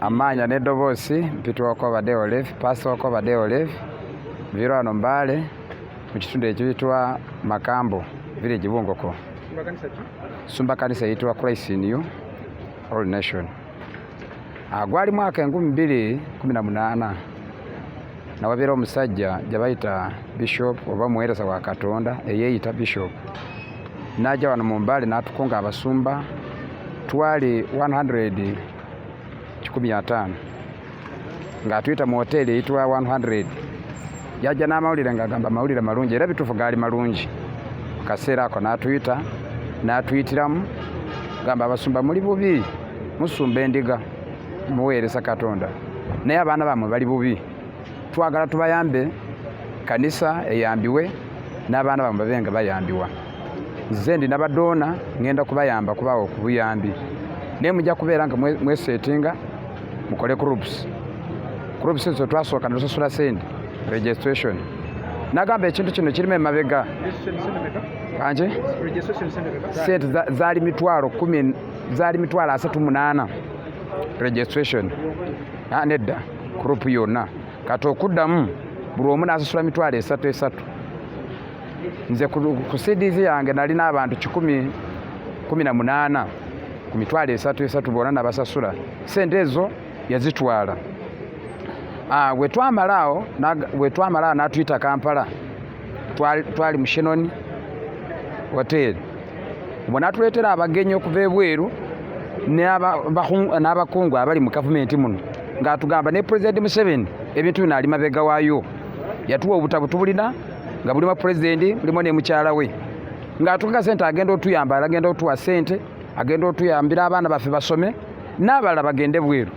amaanya n'eddoboosi mpitwako obadde olive paasitwako obadde olive viro wano mbaale mu kitundu ekiyitwa makambo village bungoko sumba kanisa eyitibwa christ in you all nation Ah, gwali mwaka enkumi bbiri kumi na munaana nawabeera omusajja gyebayita bishop oba omuweereza wa katonda eyeeyita bishop n'ajja wano mu mbaale n'atukunga abasumba twali 100 kikumi ataano ng'atuyita mu hoteeri eyitibwa 100 yajja n'amawulire ng'agamba amawulire malungi era bituufu gaali malungi mu kaseera ako n'atuyita n'atuyitiramu gamba abasumba muli bubi musumba endiga muweereza katonda naye abaana bamwe bali bubi twagala tubayambe kanisa eyambiwe n'abaana bamwe babe nga bayambiwa nze ndi nabadoona ngenda kubayamba kubawo ku buyambi naye mujja kubeera nga mwesetinga mukole groups groups ezo twasooka netusasula sente registration nagamba ekintu kino kirima emabega anje sente zaali mitwalo kumi zaali mitwalo asatu munaana registration ah, nedda group yonna kati okuddamu buli omu n'asasula mitwalo esatu esatu nze ku cds yange nalina abantu kikumi kumi na munaana ku mitwalo esatu esatu bona nabasasula sente ezo yazitwala ah, wetwamalaawo wetwamalaawo natuyita kampala twali mushenoni hoteri bwe natuleetera abagenyi okuva ebweru n'abakungu abali mu gavumenti muno ng'atugamba ne pulezidenti museveni ebintu bino ali mabega waayo yatuwa obutabo tubulina nga bulimu pulezidenti bulimu ne mukyala we ng'atukaka sente agenda otuyamba agenda otuwa sente agenda otuyambira abaana baffe basome n'abalala bagende bweru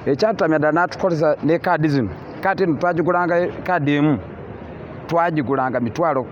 ekyatutamya ddala n'atukozesa ne kaadi zino kaati eno twagigulanga kaadi emu twagigulanga mitwalo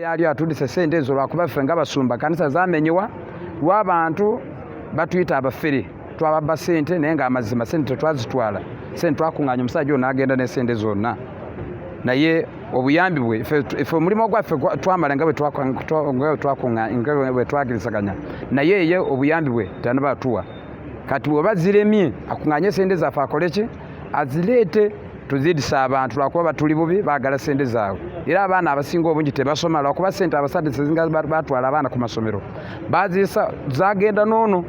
yali atudise sente ezo lwakuba ffe nga basumba kanisa zamenyewa lwabantu batuyita abafere twababba sente naye nga amazima sente tetwazitwala sente twakunganya omusajja ono agenda nesente zonna naye obuyambi bwe fe omulimu gwaffe twamala nga bwetwakirizaganya naye ye obuyambi bwe tanabatuwa kati bweba ziremye akunganye sente zaffe akoleki azireete tuzidise abantu lwakuba batuli bubi bagala sente zaabwe era abaana abasinga obungi tebasoma lwakuba sente abasajja sezinga batwala abaana ku masomero bazisa zagenda noono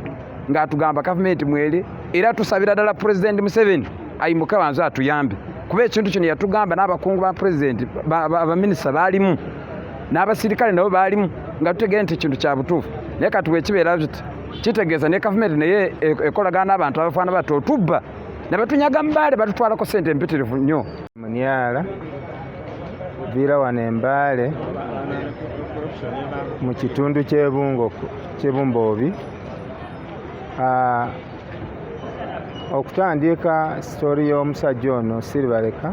ng'atugamba gavumenti mwere era tusabira ddala pulezidenti museveni ayimuke banze atuyambe kuba ekintu kino yatugamba n'abakungu ba pulezidenti abaminisita baalimu n'abasirikale nabo baalimu nga tutegere nti ekintu kya butuufu naye kati wekibeera kitegeeza ne gavumenti naye e-, ekolagana n'abantu abafaana batyo otubba nabatunyaga mbaale batutwalako sente empitirivu nnyo munyala viira wano embaale mu kitundu kyebumboobi ah, okutandiika sitoori y'omusajja ono siribaleka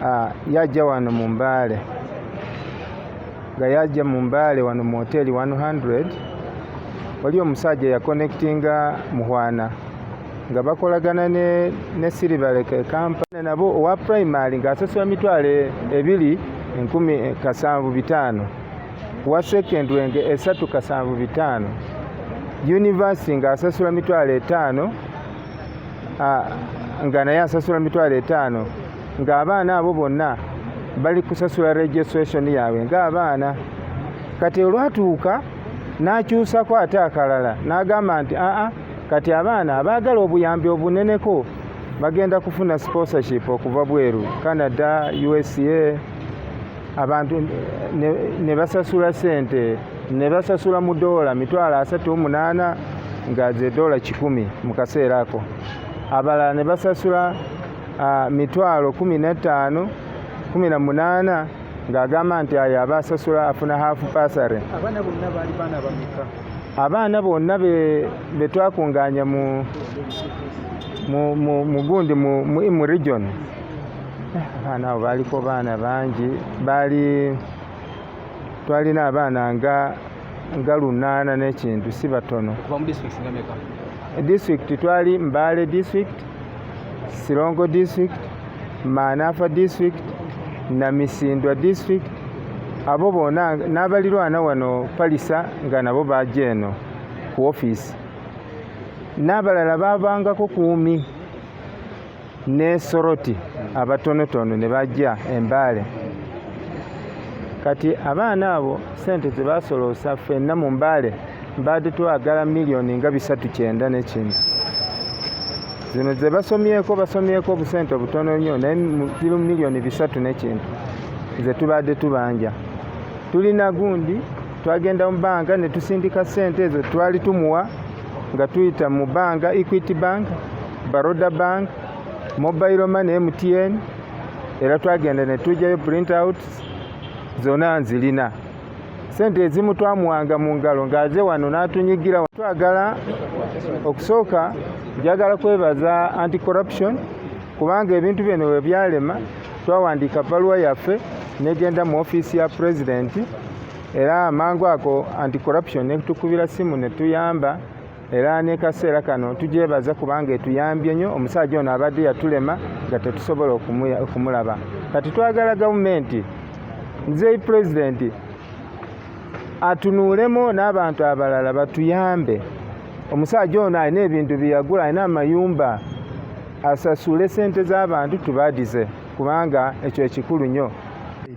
ah, yajja wano mu mbaale nga yajja mu mbaale wano mu hoteeli 100 wali omusajja yakonectinga muhwana nga bakolagana ne, ne siribalek ekampana nabo owa primary ng'asasula mitwalo ebiri enkumi kasanvu bitaano wa secondary nga esatu kasanvu bitaano yunivasiti ng'asasula mitwalo etaano nga naye asasula mitwalo etaano ng'abaana abo bonna bali kusasula registration yaabwe ng'abaana kati olwatuuka n'akyusako ate akalala n'agamba nti aa kati abaana abaagala obuyambi obuneneko bagenda kufuna sponsorship okuva bweru canada usa abantu ne basasula sente ne basasula mu doola mitwalo asatu omunaana nga ze doola kikumi mu kaseera ako abalala ne basasula ah, mitwalo kumi na ttaano kumi na munaana ng'agamba nti ayo aba asasula afuna haafu pasare abaana bonna be twakungaanya mu mugundi mu imu region eh, abaana abo baaliko baana bangi baali twalina abaana nga nga lunaana n'ekintu si batono disitulikiti twali mbaale disitulikiti Sirongo District, Maanafa District, Namisindwa District abo bona n'abalirwana wano Palisa nga nabo baja eno ku ofiisi n'abalala baabangako kuumi ne Soroti abatonotono ne bajja Embaale kati abaana abo sente zebasoloosa fenna mu Mbaale baadde twagala miliyoni nga bisatu kyenda nekintu zino ze basomyeko basomyeko obusente obutono nnyo naye ziri mu miliyoni bisatu nekintu ze tubaadde tubanja tulina gundi twagenda mu bbanga ne tusindika ssente ezo twali tumuwa nga tuyita mu bbanga equity bank baroda bank mobile money mtn era twagenda ne tujjayo print out zona nzirina sente ezimu twamuwanga mu ngalo ng'aze wano n'atunyigira twagala okusooka njagala kwebaza anti corruption kubanga ebintu bino we byalema twawandiika bbaluwa yaffe negenda mu ofiisi ya pulezidenti era amangu ako anti corruption netukubira simu netuyamba era nekaseera kano tugyebaza kubanga etuyambye nnyo omusajja ono abadde yatulema nga tetusobola okumulaba kati twagala gavumenti nzeyi pulezidenti atunuulemu n'abantu abalala batuyambe omusajja ono alina ebintu byeyagula alina amayumba asasule sente z'abantu tubadize kubanga ekyo ekikulu nnyo